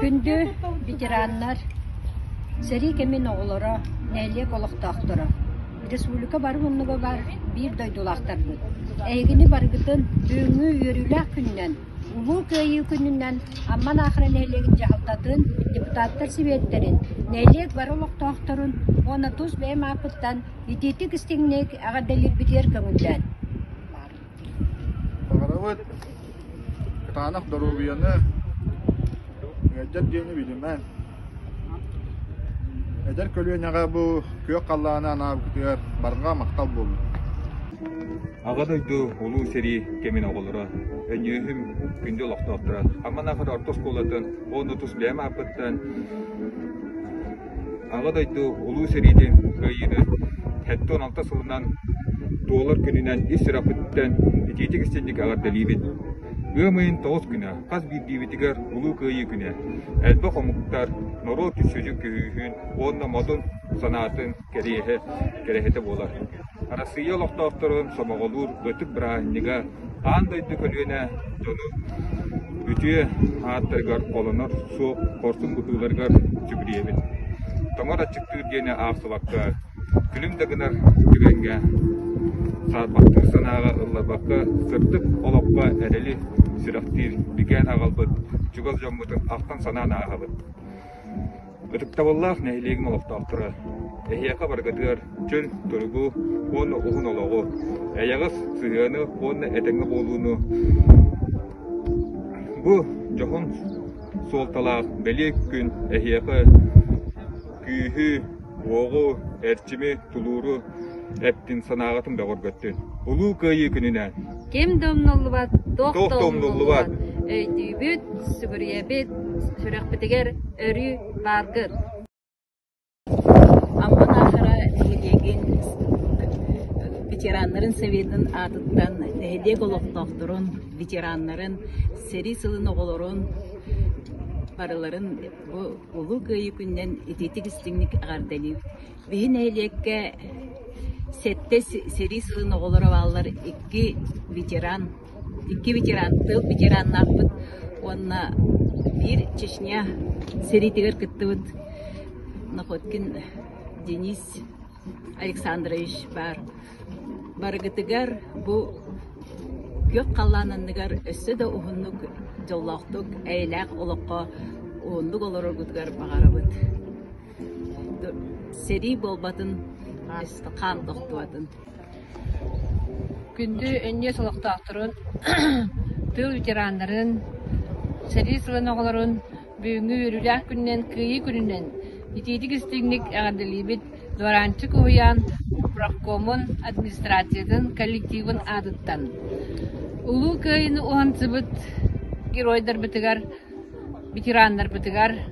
Күндү ветераннар, сэрии кэмин оҕолоро, нэһилиэк олохтоохторо, республика бары муннуга баар биир дойдулаахтарбыт, эйигини барыгытын бүгүҥҥү үөрүүлээх күнүнэн, Улуу Кыайыы күнүнэн Амман Аахара нэһилиэгин дьаһалтатын, депутаттар Сэбиэттэрин, нэһилиэк бары олохтоохторун уонна тус бэйэм ааппыттан итиитик-истиҥник эҕэрдэлиирбитигэр көҥүллээн. Баҕарабыт кытаанах доруобуйаны, мүгэрдьэр дьиэни билимэҥ. Эдэр көлүөнэҕэ бу күөх халлааны анаабытыгар барҕа махтал буоллун. Аҕа дойду Улуу сэрии кэмин оҕолоро, өнньүөһүм күндү олохтоохторо, Амманаахар орто оскуолатын уон отус бэйэм ааппыттан Аҕа дойду Улуу сэриитин кыайыыны сэттэ уон алта сылынан туолар күнүнэн ис сүрэхпиттэн итиитик истиҥник эҕэрдэлиибин. Ыам ыйын тоҕус күнэ хас биирдиибитигэр Улуу Кыайыы күнэ элбэх омуктар, норуот киччүдьүк көһүүһүн уонна модун санаатын кэриэһэ, кэрэһитэ буолар. Арассыыйа олохтоохторун сомоҕолуур ытык бырааһынньыга аан дойду көлүөнэ дьоно үтүө ааттарыгар холонор суох хорсун быһыыларыгар дьүбүрүйэбин. Тоҥор аччыктыыр диэни аахсыбакка, күлүм да гынар түгэҥҥэ, саарбахтыыр санааҕа ылларбакка, сырдык олоххо эрэли сүрэхтиир бигээн аҕалбыт чугас дьоммутун ахтан-санаан ааһабыт. Ытыктабыллаах нэһилиэгим олохтоохторо! Эһиэхэ барыгытыгар чөл туругу уонна уһун олоҕу, эйэҕэс сыһыаны уонна этэҥҥэ буолууну бу дьоһун суолталаах бэлиэ күн эһиэхэ күүһү, уоҕу, эрчими, тулууру Эттин санааҕытын бөҕөргөттүн. Улуу Кыайыы күнүнэн. Ким да умнуллубат, туох да умнуллубат. Өйдүүбүт, сүгүрүйэбит, сүрэхпитигэр өрүү бааргыт. Амман аатыра нэһилиэгин ветераннарын сэбиэтин аатыттан нэһилиэк олохтоохторун, ветераннарын, сэрии сылын оҕолорун барыларын бу Улуу Кыайыы күнүнэн итиитик истиҥник эҕэрдэлиир. Биһи нэһилиэккэ сэттэ сэрии сылын оҕолоро бааллар икки ветеран, икки ветеран, тыыл ветераннаахпыт уонна биир Чечня сэриитигэр кыттыбыт Находкин Денис Александрович баар. Барыгытыгар бу күөх халлаан анныгар өссө да уһуннук, дьоллоохтук, эйэлээх олоххо уһуннук олороргутугар баҕарабыт. сэрии буолбатын хаан тохтубатын күндү өнньүөс олохтоохторун тыыл ветераннарын сэрии сылын оҕолорун бүгүҥҥү үөрүүлээх күнүнэн кыайыы күнүнэн итиитик-истиҥник эҕэрдэлиибит Дуораанчык уһуйаан профкомун администрациятын коллективын аатыттан Улуу Кыайыны уһансыбыт геройдарбытыгар, ветераннарбытыгар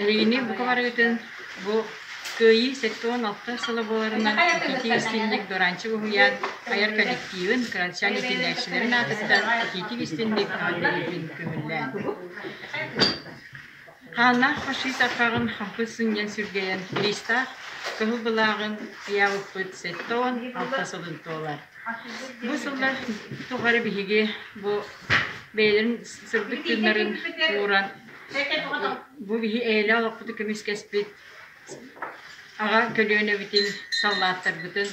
Эһигини бука барыгытын бу Кыайыы сэттэ уон алта сыла буоларынан ититии-истинник Доранчык уһуйаан айар коллективын кырачаан итиэнээччилэрин аатыттан ититик-истинник эҕэрдэлиибин көҥүллээн. Хааннаах фашист арҕаҕын хампыт сынньан сүргэйэн лиистаах кыһыл былааҕын ыйаабыппыт сэттэ уон алта сылын туолар. Бу сыллар тухары биһиги бу бэйэлэрин сырдык тыыннарын ууран Бу киһи эйэлээх олохпутун көмүскэспит аҕа көлүөнэбитин, саллааттарбытын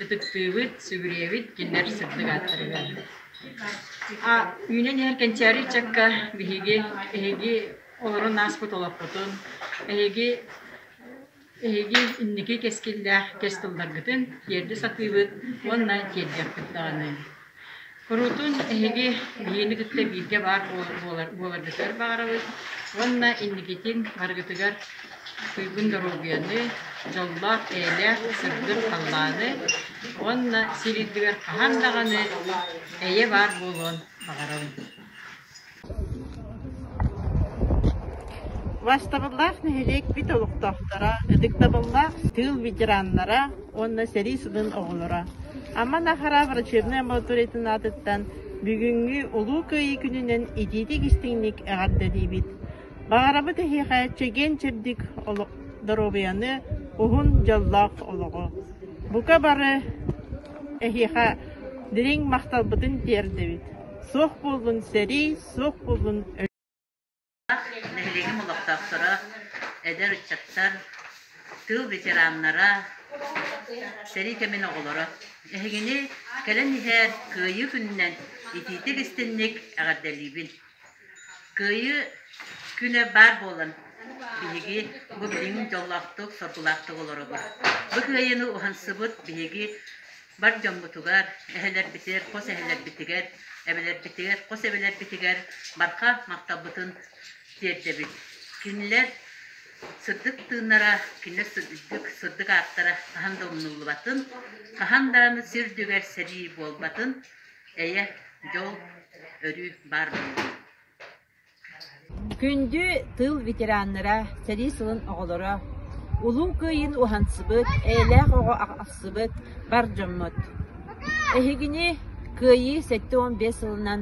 ытыктыыбыт, сүгүрүйэбит, кинилэр сырдык ааттар үһү. Үүнэн иһэр кэнчээри ыччакка биһиги, эһиги олорон ааспыт олохпутун, эһиги Эһиги инники кэскиллээх кэс тылларгытын тиэрдэ сатыыбыт уонна тиэрдиэхпит даҕаны. Куруутун эһиги биһиэни кытта бииргэ баар буоларгытыгар баҕарабыт уонна инникитин барыгытыгар туйгун доруобуйаны, дьоллоох, эйэлээх сырдык халлааны уонна сир үрдүгэр хаһан даҕаны эйэ баар буолуон баҕарабын. Бастабыллаах нэһилиэк бүт олохтоохторо, ытыктабыллаах тыыл ветераннара уонна сэрии сылын оҕолоро. Амма Нахара врачебнай амбулаториятын аатыттан бүгүҥҥү Улуу Кыайыы күнүнэн итиитик-истиҥник эҕэрдэлиибит. Баҕарабыт эһиэхэ чэгиэн-чэбдик олох доруобуйаны, уһун дьоллоох олоҕу. Бука бары эһиэхэ дириҥ махталбытын тиэрдэбит. Суох буоллун сэрии, суох буоллун нэһилиэгим олохтоохторо, эдэр ыччаттар, тыыл ветераннара, сэрии кэмин оҕолоро. Эһигини кэлэн иһээр Кыайыы күнүнэн итиитик-истинник эҕэрдэлиибин. Кыайыы күнэ баар буолан, биһиги бу билиҥҥи дьоллоохтук, соргулаахтык олоробут. Бу кыайыыны уһансыбыт биһиги бар дьоммутугар, эһэлэрбитигэр, хос эһэлэрбитигэр, эбэлэрбитигэр, хос эбэлэрбитигэр барҕа махталбытын тиэрдэбит. Кинилэр сырдык тыыннара, кинилэр сырдык, сырдык ааттара хаһан да умнуллубатын, хаһан даҕаны сир үрдүгэр сэрии буолбатын Эйэ, дьол, өрүү баар буоллун! Күндү тыыл ветераннара, сэрии сылын оҕолоро, Улуу Кыайыыны уһансыбыт, эйэлээх оҕо ахсыбыт бар дьоммут! Эһигини Кыайыы сэттэ уон биэс сылынан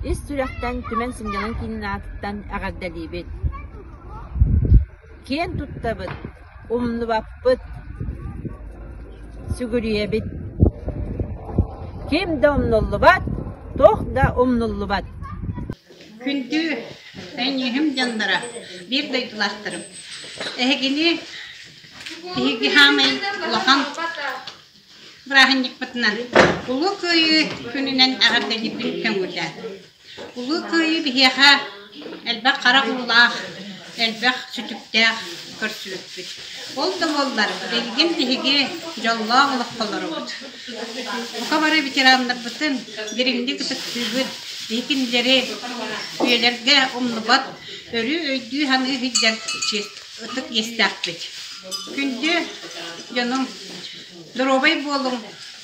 ис сүрэхтэн түмэн сынньалаҥ киинин аатыттан эҕэрдэлиибит! Киэн туттабыт! Умнубаппыт, сүгүрүйэбит. Ким да умнуллубат, туох да умнуллубат. Күндү эйиэһим дьонноро, биир дойдулаахтарым, эһигини биһиги хаамай улахан бырааһынньыкпытынан Улуу Кыайыы күнүнэн эҕэрдэлиибин көҥүлээн. Улуу Кыайыы биһиэхэ элбэх харах уулаах, элбэх сүтүктээх көрсүбүппүт. Ол да буоллар, билигин биһиги дьоллоох олохтолоробут. Бука бары ветераннарбытын дириҥник ытыктыыбыт, биһи кинилэри үйэлэргэ умнубат өрүү өйдүү-саныы сылдьар ытык иэстээхпит. Күндү дьонум, доруобай буолуҥ,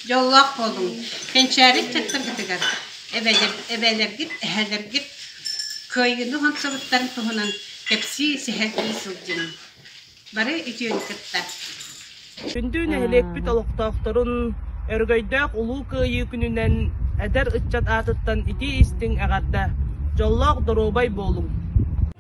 Дьоллоох буолуҥ, кэнчээри чаттаргытыгар эбэлэргит, эһэлэргит кыайыыны онсобуттарын туһунан кэпсии-сэһэргии сылдьыҥ. Бары үтүөнү кытта. Күндүү нэһилиэкпит олохтоохторун өрөгөйдөөх Улуу Кыайыы күнүнэн эдэр ыччат аатыттан итии-истиҥ эҕэрдэ, дьоллоох доруобай буолуҥ!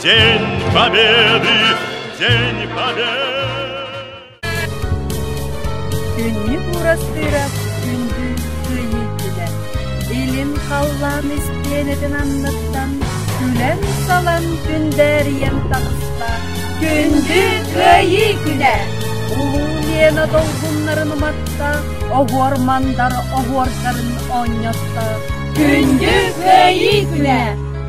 День Победы! День Победы! Күннү уурастыыра күндү кыйыытыга илим халлаан истиэнэтин анныттан күлэн-салан күндээрийэн таҕыста күндү кыайыы күнэ улуу лиэна долгуннарын уматта оһуормандар оһуордарын оонньотто күндү кыайыы күнэ